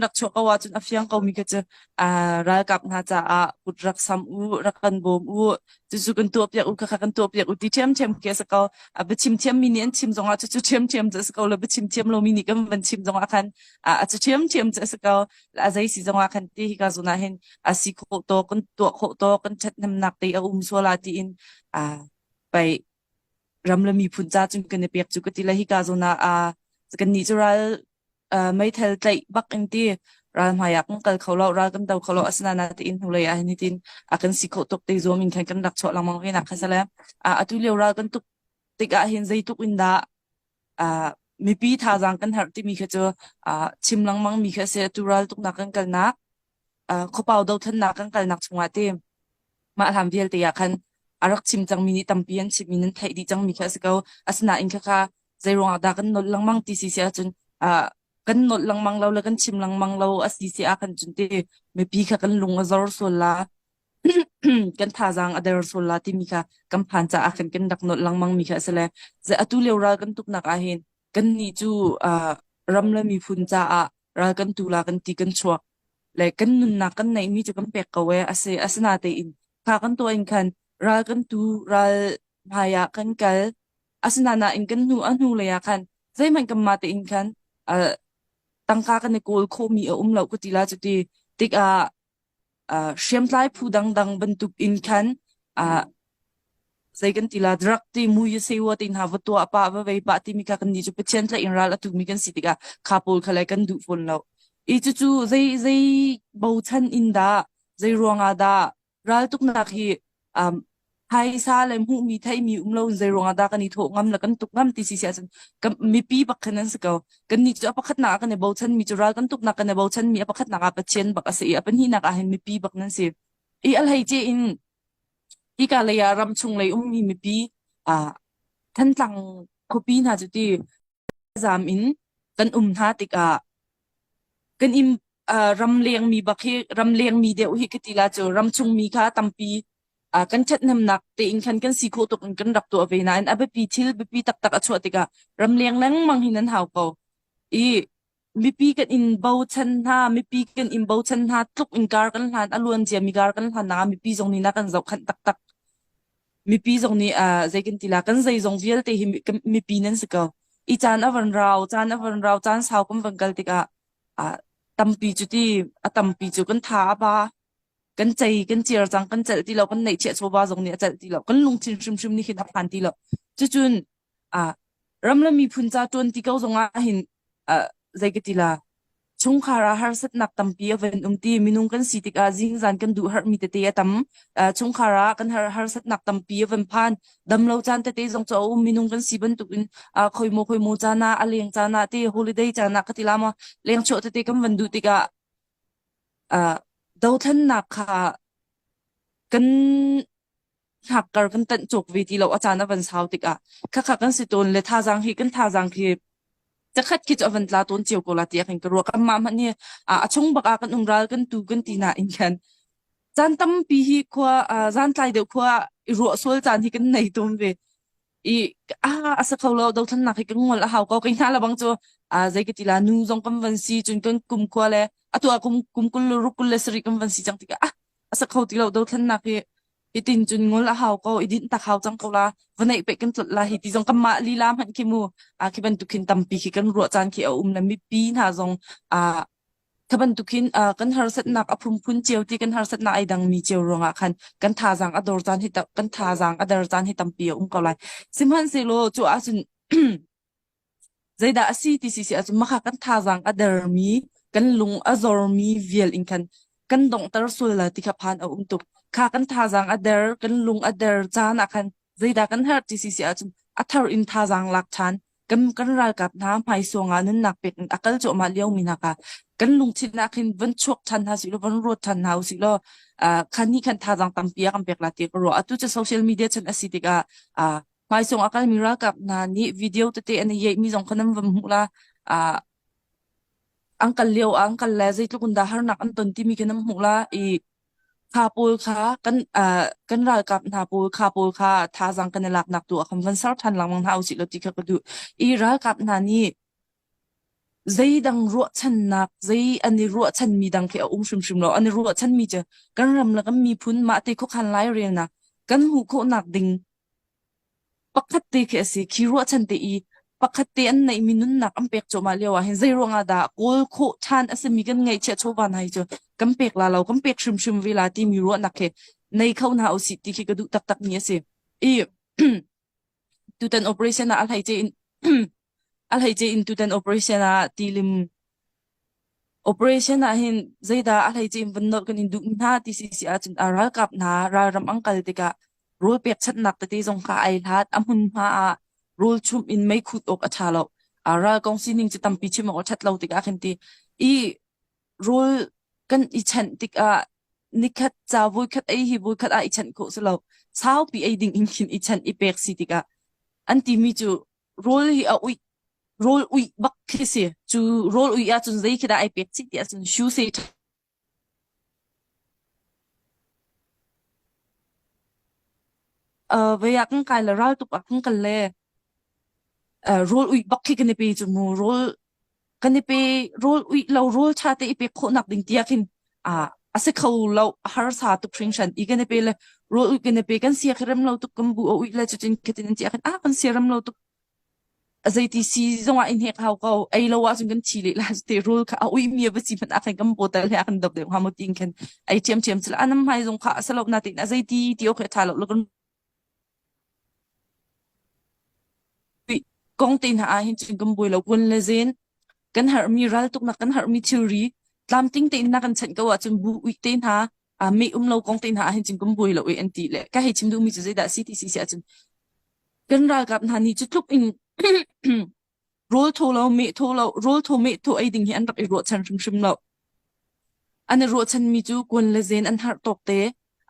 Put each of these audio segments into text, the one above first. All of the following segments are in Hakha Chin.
rak chuak ko ahcun a fiang ko mi kha cu ralkap hna caah kut rak sam u rak kan bawm u cucu kan tuah piak u kha kan tuah piak u ti ṭhiam ṭhiam khi a si ko a biachim thiam mi nih an chim zongah cucu ṭhiam ṭhiam cu a si ko lo biachim thiam lo mi nih kan van chim zongah khan a cu ṭhiam ṭhiam cu a si ko a zei si zongah khan ti hi ka zunah hin a si khawh to kan tuah khawh to kan ṭhat nemnak te a um suala tiin a pei ram le miphun ca cun kan i pek cu ka ti le hika zawn ah a kannih cu ral uh, meithal tlaih bak in ti ral hmai ah kan kal kho lo ral kan do kho lo asina na te in hnulei ah hin tin a kan si khawh tuk te zuam in khan kan rak chuah langmang ve na kha sale a atu lio ral kan tuk tik ah hin zeituk in dah uh, mipi thazang kan harh timi kha cu uh, chim lengmang mi kha a si tu raltuknak kan kalnak uh, khopau dothannak kan kalnak chungah te mah hlam vialte ah khan a rak chim cangmi nih tampi an chim in an theih dih cangmi kha a si ko asinain khakha zeiruangah dah kan nolh lengmang ti si si ahcun uh, kan nolh lengmang lo le kan chim lengmang lo a si si ah khan cun te mipi kha kan lung a zor sual la kan thazaang a der sual la timi kha kan phan caah khan kan rak nolh lengmang mi kha a si le ze atu lio ral kan tuknak ah hin kan nih cu uh, ram le miphun caah ral kan tu la kan ti kan chuak le kan nunnak kan neih mi cu kan pek ko e ase asina tein kha kan to in khan ral kan tu ral hmai ah kan kal asina na in kan nu anu le ya khan zeihman kan ma te in khan uh, tangka kan i kawl kho mi a um lo ku ti la cu ti tik ah hriamtlai phu dangdang bantuk in khan zei kan ti la drug ti mui sewa te hna va tua apa va vei pa timi kha kan ni chu pathian tla in ral atu mi kan si tikah kha pawl kha lai kan duh fawn lo i cucu zei zei bochan in dah zei ruangah dah ral tuk nak hi um, phaisa le hmuhmi theimi um lo zeiruang ah dah kan i thawh ngam la kan tuk ngam ti si si ahcun kan mipi pakhat an si ko kan ni cu apakhatnak ah kan i bochan mi cu ral kan tuknak kan i bochan mi apakhatnak ah pathian bak a si i apahnihnak ah hin mipi bak nan si i alhei ce in ika lei ah ram chung lei ummi mipi ah Thantlang khuapi hna cu ti zaam in kan um hna tikah kan im uh, ram lengmi bak hi ram lengmi deuh hi kitila cu ram chungmi kha tampi uh, kan ṭhathnemnak tein khan kan si khawh tuk in kan rak tuah ve nain a biapi thil biapi taktak a chuah tikah ram leng lengmang hi nan hau ko i Mipi kan in bochan hna, mipi kan in bochan hna tluk in kar kan hlan, a luan ciami kar kan hlan nak ah mipi zong nih na kan zohkhanh taktak. Mipi zong nih uh, zei kan ti la kan zeizong vialte hi mi- kan- mipi nan si ko. I caan a van rau, caan a van rau, caan sau kan van kal tikah uh, tampi cu ti, a tampi cu kan tha a ba, kan cei, kan ciar cang, kan celh ti lo, kan neih chiah chawba zong nih a celh ti lo, kan lungthin hrimhrim nih hin a phan ti lo. Cucun ah ram le miphun ca ṭuanti ko zongah hin uh, zei ka ti la chungkhar ah harsatnak tampi a van um ti minung kan si tikah zing zan kan duh harmi tete a tam uh, chungkhar ah kan har harsatnak tampi a van phan damlo caan tete zong chu a um minung kan si bantukin uh, khoimo khoimo cana a leng cana te holiday cana ka ti lama leng chho tete kan van duh tikah uh, dothannak kha kan hakkar kan tanh cuk vi ti lo a caan a van sau tikah khakha kan si tawn le thazaang hi kan thazaang khi zakhat khi chu a van tla tawn cio ko la ti kan ka ruak amma man hi a a chung baka kan umral kan tu kan ti na in khan chan tampi hi khua zan tlai deuh khua i ruah sual chan hi kan nei tum ve i ah a sa kho lo dothlannak hi ka ngol a hau ko kai hna labang cu a zei ka tila nu zong kan van si cun kan kum khua le atu a kum kum kul le ruk kul le sari kan van si cang tikah ah a sa kho ti lo dothlannak hi itin cun ngol a hau ko idin tak hau cang ko la va neih pe kan tlot la hi ti zong kan mah lila hman khi mu a khi bantuk khin tampi khi kan ruah caan khi a um le mipi hna zong a Kha bantukin uh, kan harsatnak a phunphun cio ti kan harsatnak ai dangmi cio ruangah khan kan thazaang a dor caan hi tam, kan thazaang a der caan hi tampi a um ko lai. Sihmanhsehlaw cu ahcun zeidah a si ti si si ahcun maka kan thazaang a dermi kan lung a zormi vial in khan kan donghter sual la ti kha phan a um tuk. Kha kan thazaang a der, kan lung a der caan ah khan zeidah kan herh ti si si ahcun a thar in thazaang lak than kan kan ralkap hna hmaisawng ah nunnak pek in a kal cuahmah lio mi hna ka kan lungthin nak hin van chuak than hna si law van ruat than hna si law uh, khan hi khan thazang tampi a kan pek la ti ka ruah atu chu social media chan asi tikah uh, hmaisawng a kal mi ralkap hna nih video tete an yei mi zong khan an vam mu la uh, angkal leo angkal le zeitluk in dah harnak an ton timi kan am hmuh la i kha pawl kha kan uh, kan ralkap hna pawl kha pawl kha thazang kan i laknak tu a kan van ser than langmang hna u si lo ti kha ka duh i ralkap hna nih zeidang ruahchannak zei an i ruahchan mi dang khi a um hrimhrim lo an i ruahchan mi cu kan ram le kan miphun mah te khuakhan lai relnak kan hmuh khawhnak ding Pakhat te khi a si khi ruahchan te i pakhat te an neihmi nunnak an pek cuahmah lio ah hin zeiruangah dah kawl khawh ṭhan a simi kan ngaihchiah chawva hna hi cu kan pek la lo kan pek hrimhrim ve la timi ruahnak he nei kho hna usih ti khi ka duh taktakmi a si. I tutan operation ah a hlei in A hleice in tutan operation ah tilim operation ah hin zeidah a hleice in van nawt kan in duh hna ti si si ahcun a ralkap hna ralram an kal tikah rawl pekchanhnak tete zong kha ai hlat a hmunhma ah rawl chumh in meikut awk a tha lo a ral kong sining cu tampi chim awk a that lo tikah khin ti i rawl kan i chanh tikah nikhat ca voikhat ei hi voikhat ah i chanh khawh si lo saupi ei ding in khin i chanh i pek si tikah an timi cu Rul hi a uih rul uih bak khi si cu rul uih ahcun zei khi dah ai pek cik ti ahcun shoe say uh, vei ah kan kai le ral tuk ah kan kal le uh, rul uih bak khi kan i pe cu mu rul kan i pe rul uih lo rul cha te i pek khawhnak ding tiak hin a a si kho lo harsa tuk hringshan i kan i pe le rul uih kan i pe kan sia khirem lo tuk kan bu a uih le chutin khitin in tiak hin a kan siaram lo tuk azeiti si zongah in hek hau ko ei lo ah cun kan thi le la te rul kha a ui mi ba si man a khan kan botel he kan dop de ha mo tin khen ai chem chem chla anam mai zong kha asalok na tin azeiti tio khe tha lo lo kan Kong te hna ah hin cun kan buai lo kun le zin. Kan herhmi raltuk na kan herhmi thilri tlamtling tein na kan chanh ko ahcun bu uih te hna a me um lo kong te hna ah hin cun kan buai lo e an ti le ka hei chim duhmi cu zeidah si ti si si ahcun kan ralkap hna nih cu tluk in Rul thu lo, meh thu lo, rul thu meh thu ei ding hi an rak i ruahchan hrimhrim lo. An i ruahchanmi cu kun le zen an harh tawk te,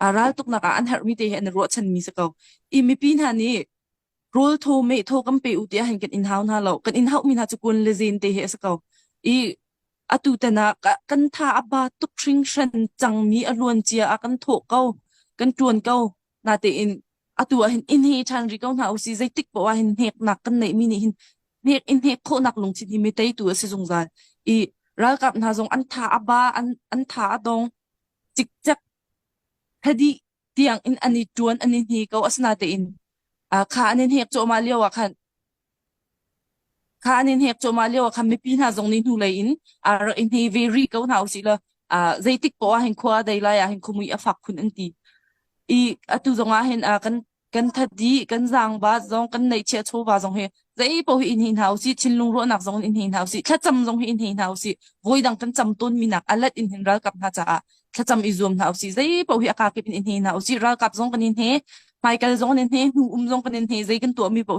a ral tuknak ah an harhmi te hi an i ruahchanmi si ko. I mipi hna nih rul thu meh thu kan pe u tiah han kan in hau hna lo. Kan in hauhmi hna cu kun le zen te hi a si ko. I atu tanak ah kan tha a ba tuk hring shen cangmi a luancia ah kan thawh ko, kan tuan ko. Natein atu ah hin in hi ṭhan ri ko hna u si zeitik poah hin hneknak kan neihmi nih hin hnek in hnek khawhnak lungthin hi mi teitu a si zungzal i ralkap hna zong an tha a ba an an tha a dong cikcek thadi tiang in an i ṭuan an i hni ko asinatein a kha an in hnek cawhma lio ah khan Kha an in hnek cuahmah lio ah khan mipi hna zong nih hnulei in aa rak i hne ve rih ko hna usih law ah, zeitik poh ah hin khua a dei lai ah hin khumui a fak khun an ti. I atu zong ah hin ah, kan kan thadi, kan zaangbaat zong, kan neihchiah chawva zong hi zei poh hi in hne hna usih, thinlung ruahnak zong in hne hna usih, thlacam zong hi in hne hna usih, voi dang kan cam tawnmi nak alat in hin ralkap hna caah thlacam i zuam hna usih, zei poh hi a kakip in in hne hna usih, ralkap zong kan in hne, hmaikal zong in hne, hnu um zong kan in hne, zei kan tuahmi poh